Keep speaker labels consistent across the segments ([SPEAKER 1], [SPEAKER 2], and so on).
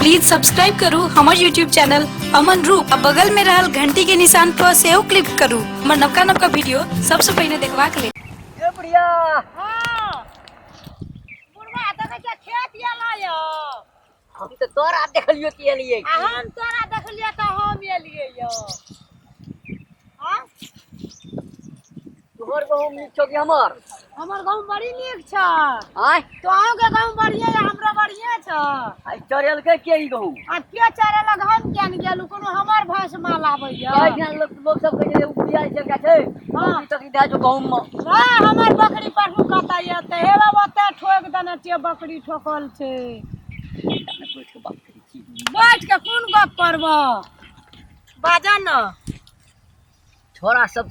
[SPEAKER 1] Please subscribe करू हमर YouTube channel Aman Roop आ बगल में रहल घंटी के निशान पर सेहो क्लिक करू हमर नवका नवका वीडियो सबसे पहले देखबाक लेल ए बुढ़िया बुढ़वा देखै छियै खेत यला यौ हम तऽ तोरा देखलियो कि एलियै आ हम तोरा देखलियै तऽ हम एलियै यौ हाँ? तोहर गहूँम नीक छौ कि हमर हमर गाँव बड़ी नीक छ आँय तोहूँ के गाँव बढ़िया यऽ हमरो बढ़िया छ आइ चढ़ेलकै के ई गहूँम आ के चरे लग हम किया ने गेलू कोनो हमर भैंस माल आबै यऽ कहै छै लोक लोक सब कहै छै उपजा छै का छै हाँ। ई तक दए जो गहूँम मे हाँ, हमर बकरी पढ़ू कतऽ यऽ तऽ हे बाबा ओतऽ ठोक देने छियै बकरी ठोकल छै बैठ के कोन गप करब बाजा न छोरा सब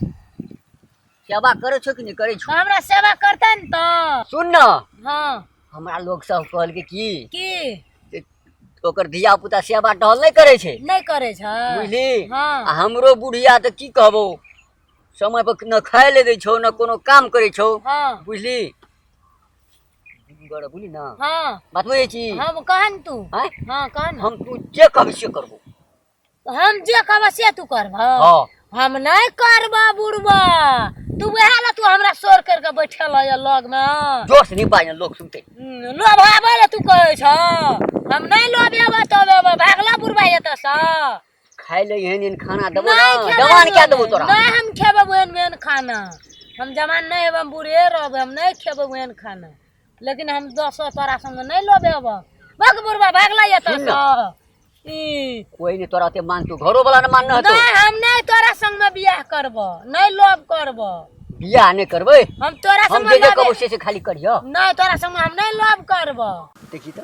[SPEAKER 1] सेवा करे छो कि नहीं करे छो हमरा सेवा करते न तो सुन न हाँ हमरा लोग सब कहल के की की जे ओकर धिया पुता सेवा टहल नहीं करे छे नहीं करे छ बुझली हाँ। आ हमरो बुढ़िया तो की कहबो समय पर न खाए ले दे छो न कोनो काम करे छो हाँ बुझली दीदी गड़ा बोली ना हाँ बात वही छी हाँ वो कहा न तू हैं? हाँ कहा न हम तू जे कब से करबो हम जे कहब से तू करब हाँ हम नहीं करब बुढ़बा तू वह ला तू हमरा शोर करके बैठल है लग में जोर से नहीं बाज लोग सुनते हम्म, लोभावे ला तू कहै छ हम नहीं लोभेब तबेब भागला बुढ़बा एतऽ सँ खाय ले एहन एहन खाना देबो ना नहीं खेबै जवान क्या देबो तोरा नहीं हम खेबै ओहन ओहन खाना हम जवान नहीं हेबै हम बूढ़े रहबै हम नहीं खेबै ओहन खाना लेकिन हम दस तोरा संग नहीं लबे अब भाग बुढ़वा भाग ला ये तो सुन ना। ई कोई नहीं तोरा ते मान तू घरो वाला ने मान न तो नहीं हम नहीं तोरा संग में बियाह करबो नहीं लव करबो बियाह नहीं करबे हम तोरा हम संग जे जे लबे कहबो से से खाली करियो नहीं तोरा संग हम नहीं लव करबो देखी तो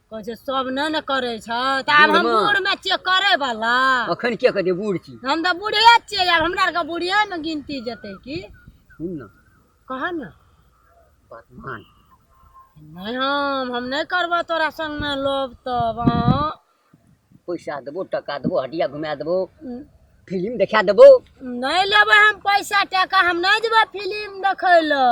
[SPEAKER 1] कहै छै सब नहि ने करै छै तऽ आब हम बूढ़मे? बूढ़मे छियै करै बला अखन के कहतै बूढ़ छी हम तऽ बूढ़े छियै आब हमरा आरके बूढ़े ने गिनती जेतै की सुन ने कह ने बात मान नहि हम हम नहि करबऽ तोरा संगमे लोभ तब अहाँ पैसा देबो टका देबो हटिया घुमा देबो फिल्म देखा देबो नहि लेबै हम पैसा टाका हम नहि जेबै फिलिम देखै लए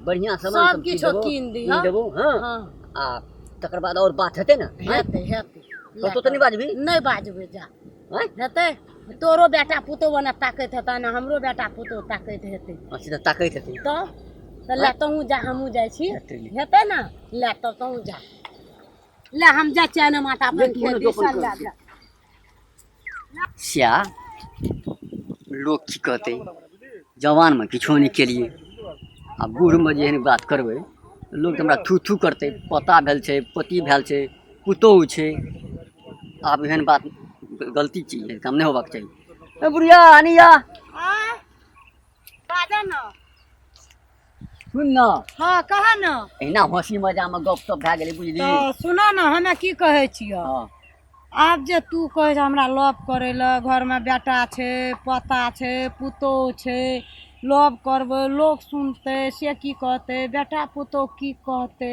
[SPEAKER 1] बढ़िया सामान सब सब चीज किछो देबो, कीन कीन दिहऽ। देबो हाँ हाँ आ तकर बाद और बात हेतै ने हैं? हेतै हेतै तो तो तऽ नहि बाजबी नहि बाजबै जा हैं? हेतै तोरो बेटा पुतोह ओना ताकैत हेतै ने हमरो बेटा पुतोह ताकैत हेतै हाँ, सीधा ताकैत हेतै तऽ तऽ लए तहूँ जा हमहूँ जाइ छी हेतै नी। हेतै ने लए तऽ तहूँ जा लए हम जाइ छियै ने माता अपन देखियौ ने खेत दोकान दिसन लए करै जा सएह लोक की कहतै जवानमे किछो नहि केलियै आ बूढ़मे जे एहन बात करबै लोक तऽ हमरा थू थू करतै पोता भेल छै पोती भेल छै पुतोहु छै आब एहन बात गलती चीज एहन काम नहि होबाक चाही ए बुढ़िया आनिया बाजऽ ने सुन न हाँ कह न एना हंसी मजा में गप सब भए गेलै बुझली तो सुन न हमे की कहे छियो हाँ आब जे तू कहे छै हमरा लव करे ल घर में बेटा छै पोता छै पुतोह छै लव करबै लोग सुनते से की कहते बेटा पुतोह की कहते